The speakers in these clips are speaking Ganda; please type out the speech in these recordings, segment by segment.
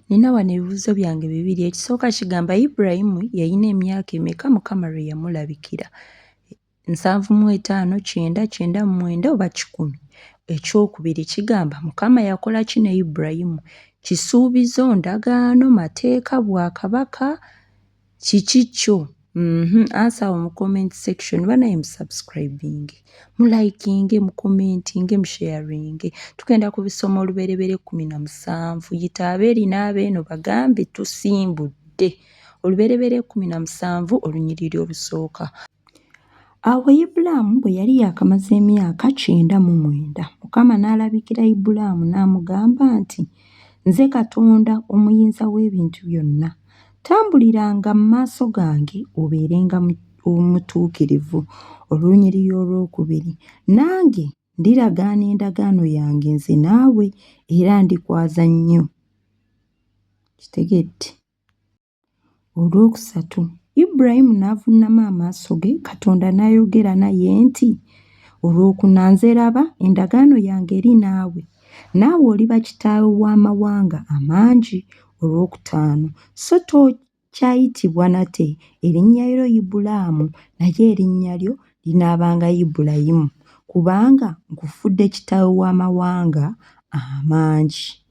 Nina wano ebibuuzo byange bibiri. Ekisooka kigamba Ibulayimu yalina emyaka emeka Mukama lwe yamulabikira? Nsanvu mu etaano, kyenda, kyenda mu mwenda oba kikumi? Ekyokubiri kigamba Mukama yakola ki ne Ibulayimu? Kisuubizo, ndagaano, mateeka, bwakabaka? kiki kyo mhm ansa awo mu comment section banaye mu subscribing mu liking mu commenting mu sharing tugenda ku bisoma oluberebere kumi na musanvu yita abeeri n'abeeno bagambe tusimbudde oluberebere kumi na musanvu olunyiriri olusooka Awo Ibulaamu bwe yali yaakamaze emyaka kyenda mu mwenda, Mukama n'alabikira Ibulaamu n'amugamba nti, Nze Katonda Omuyinza w'Ebintu Byonna. Tambuliranga mu maaso gange obeerenga omutuukirivu. Olunyiriri olwokubiri, nange ndiragaana endagaano yange nze naawe era ndikwaza nnyo. Kitegedde? Olwokusatu, Ibulayimu n'avunnama amaaso ge, Katonda n'ayogera naye nti, Olwokuna, nze laba, endagaano yange eri naawe, naawe oliba kitaawe w'amawanga amangi. Olwokutaano, so tokyayitibwa nate erinnya lyo Ibulaamu, naye erinnya lyo linaabanga Ibulayimu, kubanga nkufuudde kitaawe w'amawanga amangi.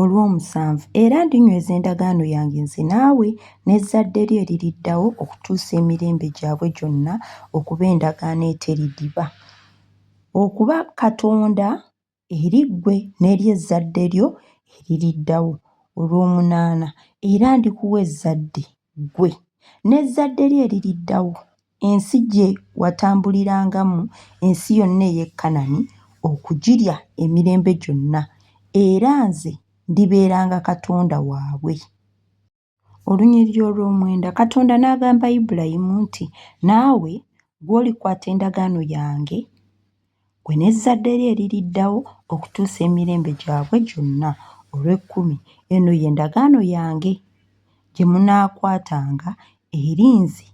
olw'omusanvu, era ndinyweza endagaano yange nze naawe n'ezzadde lyo eririddawo okutuusa emirembe gyabwe gyonna okuba endagaano eteridiba, okuba Katonda eri ggwe n'eri ezzadde lyo eririddawo. Olw'omunaana, era ndikuwa ezzadde, ggwe n'ezzadde lyo eririddawo. Ensi gye watambulirangamu, ensi yonna ey'e Kanani, okugirya emirembe gyonna, era nze ndibeeranga Katonda waabwe. Olunyiriri olw'omwenda Katonda n'agamba Ibulayimu nti, Naawe gw'olikwata endagaano yange, ggwe n'ezzadde lyo eririddawo okutuusa emirembe gyabwe gyonna. Olw'ekkumi, eno ye ndagaano yange gye munaakwatanga eri nze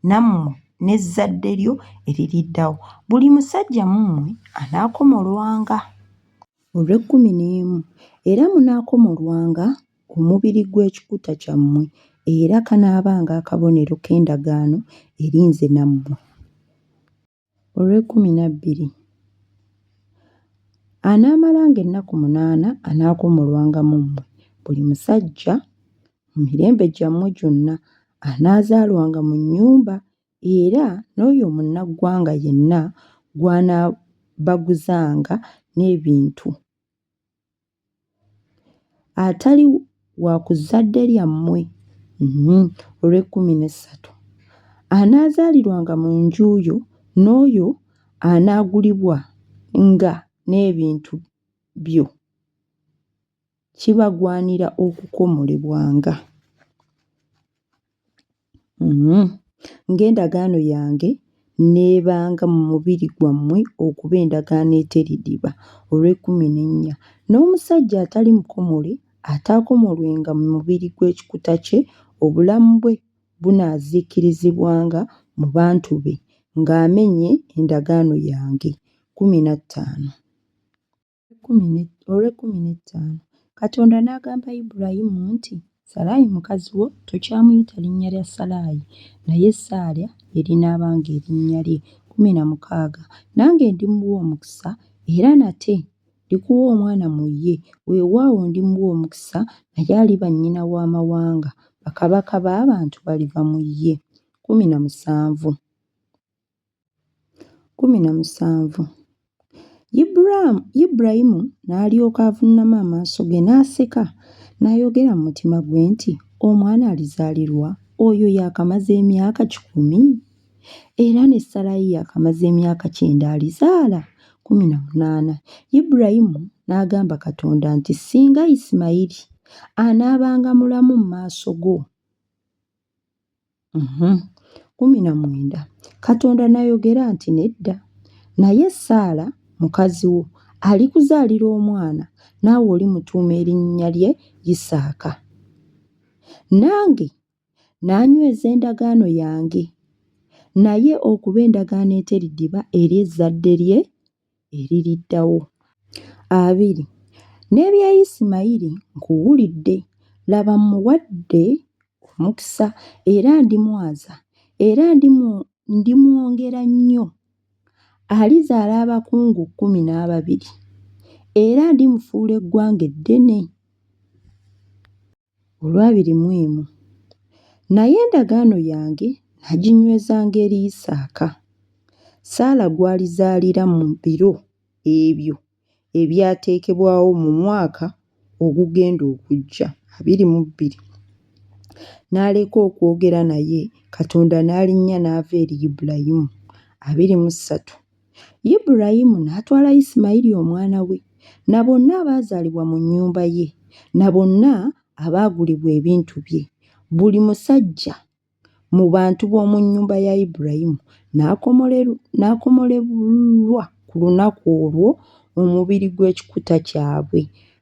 nammwe n'ezzadde lyo eririddawo, buli musajja mu mmwe anaakomolwanga. Olw'ekkumi n'emu, era munaakomolwanga omubiri gw'ekikuta kyammwe, era kanaabanga akabonero k'endagaano eri nze nammwe. olw'ekkumi na bbiri, anaamalanga ennaku munaana anaakuumulwanga mu mmwe, buli musajja mu mirembe gyammwe gyonna anaazaalwanga mu nnyumba, era n'oyo munnaggwanga yenna gw'anaabaguzanga n'ebintu. atali wa ku zzadde lyammwe olw'ekkumi n'essatu, anaazaalirwanga mu nju yo, n'oyo anaagulibwanga n'ebintu byo, kibagwanira okukomolebwanga. Ng'endagaano yange n'ebanga mu mubiri gwammwe okuba endagaano eteridiba, olw'ekkumi n'ennya, n'omusajja atali mukomole ataakomolwenga mu mubiri gw'ekikuta kye, obulamu bwe bunaaziikirizibwanga mu bantu be, ng'amenye endagaano yange. kkumi na ttaano. Olw'ekkumi n'ettaano Katonda n'agamba Ibulayimu nti, Salaayi mukazi wo tokyamuyita linnya lya Salaayi, naye Saala lye linaabanga erinnya lye. Kkumi na mukaaga Nange ndimuwa omukisa, era nate ndikuwa omwana mu ye, weewaawo, ndimuwa omukisa, naye aliba nnyina w'amawanga, bakabaka b'abantu baliva mu ye. Kkumi na musanvu. Kkumi na musanvu Ibulaamu, Ibulayimu n'alyoka avunnama amaaso ge n'aseka, n'ayogera mu mutima gwe nti, Omwana alizaalirwa oyo yaakamaze emyaka kikumi? Era ne Sarayi yaakamaze emyaka kyenda alizaala? Kkumi na munaana Ibulayimu n'agamba Katonda nti, Singa Isimayiri anaabanga mulamu mu maaso go, Kkumi na mwenda, Katonda n'ayogera nti, Nedda, naye Saala mukazi wo alikuzaalira omwana, naawe olimutuuma erinnya lye Isaaka. Nange n'anyweza endagaano yange naye okuba endagaano eteridiba eri ezzadde lye eririddawo. Abiri, N'ebya Isimayiri nkuwulidde, laba mmuwadde omukisa era ndimwaza era ndimwongera nnyo. Alizaala abakungu kkumi n'ababiri era ndimufuula eggwanga eddene. olw'abiri mu emu, naye endagaano yange naginywezanga eri Isaaka, Saala gw'alizaalira mu biro ebyo ebyateekebwawo mu mwaka ogugenda okujja, abiri mu bbiri. N'aleka okwogera naye, Katonda n'alinnya n'ava eri Ibulayimu, abiri mu ssatu. Yiburayimu n'atwala Yisimayiri omwana we, na bonna abaazaalibwa mu nnyumba ye, na bonna abaagulibwa ebintu bye, buli musajja mu bantu b'omu nnyumba ya Yiburayimu n'akomolebwa ku lunaku olwo omubiri gw'ekikuta kyabwe.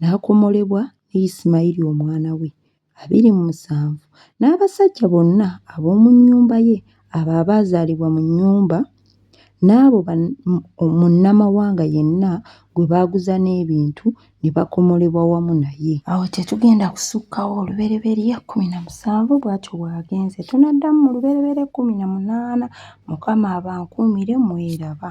n'akomolebwa ne Yisimayiri omwana we, abiri mu musanvu, n'abasajja bonna ab'omu nnyumba ye, abo abaazaalibwa mu nnyumba, n'abo munnamawanga yenna gwe baaguza n'ebintu, ne bakomolebwa wamu naye. Awo tetugenda kusukkawo olubereberye kkumi na musanvu, bw'atyo bw'agenze. Tunaddamu mu lubereberye kkumi na munaana, Mukama abankuumire, mweraba.